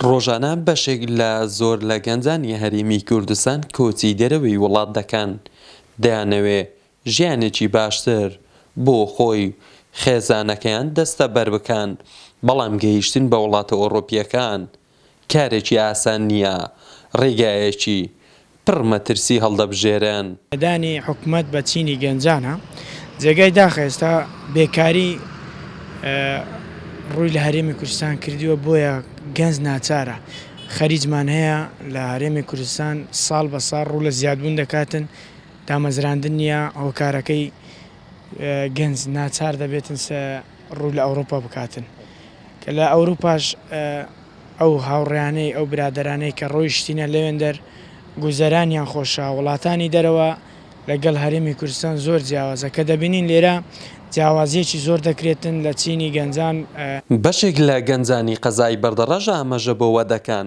ڕۆژانە بەشێک لە زۆر لە گەنجانی هەرێمی کوردستان کۆچی دەرەوەی وڵات دەکەن، دەیانەوێ ژیانێکی باشتر بۆ خۆی و خێزانەکەیان دەستەبەر بکەن، بەڵام گەیشتن بە وڵاتە ئەوڕۆپییەکان کارێکی ئاسان نییە، ڕێگایەکی پڕ مەترسی هەڵدەبژێرن. نەدانی حکومەت بە چینی گەنجانە، جێگای داخە ئێستا بێکاری ڕووی لە هەرێمی کوردستان کردووە، بۆیە گەنج ناچارە خەریجمان هەیە لە هەرێمی کوردستان ساڵ بە ساڵ ڕوو لە زیادبوون دەکاتن، دامەزراندن نییە هۆکارەکەی گەنج ناچار دەبێتن. ڕوو لە ئەوروپا بکاتن کە لە ئەوروپاش ئەو هاوڕێیانەی ئەو برادەرانەی کە ڕۆیشتینە لەوێندەر گوزەرانیان خۆشە وڵاتانی دەرەوە لەگەڵ هەرێمی کوردستان زۆر جیاوازە کە دەبینین لێرە جیاوازیەکی زۆر دەکرێتن لە چینی گەنجان. بەشێک لە گەنجانی قەزای بەردەڕەش ئامەژە بۆوە دەکەن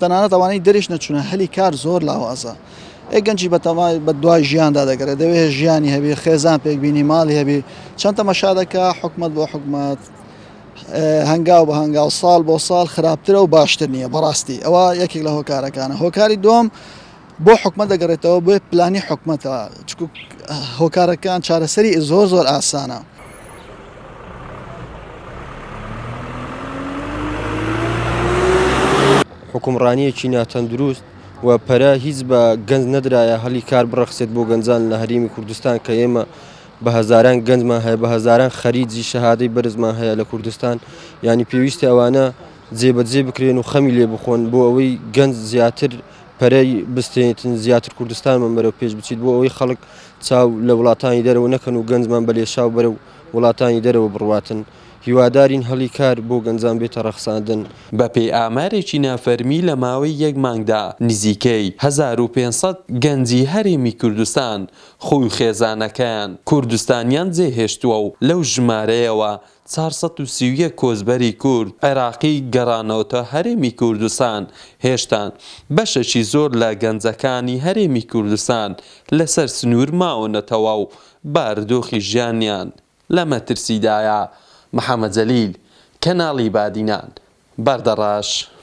تەنانەت ئەوانەی دەریش نەچوونە هەلی کار زۆر لاوازە. ئەی گەنجی بەتەمای بە دوای ژیاندا دەگەڕێت، دەوێت ژیانی هەبێت، خێزان پێک بینی، ماڵی هەبێت، چەند تەمەشا دەکا حکومەت بۆ حکومەت، هەنگاو بە هەنگاو، ساڵ بۆ ساڵ خراپترە و باشتر نییە، بەڕاستی ئەوە یەکێک لە هۆکارەکانە. هۆکاری دووەم، بۆ حکومەت دەگەڕێتەوە بۆ پلانی حکومەتە چکو هۆکارەکان چارەسەری زۆر زۆر ئاسانە. حکومڕانیەکی ناتەندروست و پەرە هیچ بە گەنج نەدرایە هەلی کار بڕەخسێت بۆ گەنجان لە هەرێمی کوردستان کە ئێمە بە هەزاران گەنجمان هەیە بە هەزاران خەریجی شەهادەی بەرزمان هەیە لە کوردستان ینی پێویستە ئەوانە جێبەجێ بکرێن و خەمی لێ بخۆن بۆ ئەوەی گەنج زیاتر پەرەی بستێنیت زیاتر کوردستانمان بەرەو پێش بچیت بۆ ئەوەی خەڵک چاو لە وڵاتانی دەرەوە نەکەن و گەنجمان بە لێشاو بەرەو وڵاتانی دەرەوە بڕواتن هیوادارین هەڵی کار بۆ گەنجان بێتە ڕەخساندن. بەپێی ئامارێکی نافەرمی لە ماوەی یەک مانگدا نزیکەی هەزار و پێنج سەد گەنجی هەرێمی کوردستان خۆی و خێزانەکەیان کوردستانیان جێهێشتووە و لەو ژمارەیەوە چوار سەد و سی و یەک کۆچبەری کورد عێراقی گەڕانەوەتە هەرێمی کوردستان، هێشتان بەشێکی زۆر لە گەنجەکانی هەرێمی کوردستان لەسەر سنوور ماونەتەوە و بارودۆخی ژیانیان لە مەترسیدایە، محەمەد جەلیل، کەناڵی بادینان، بەردەڕەش.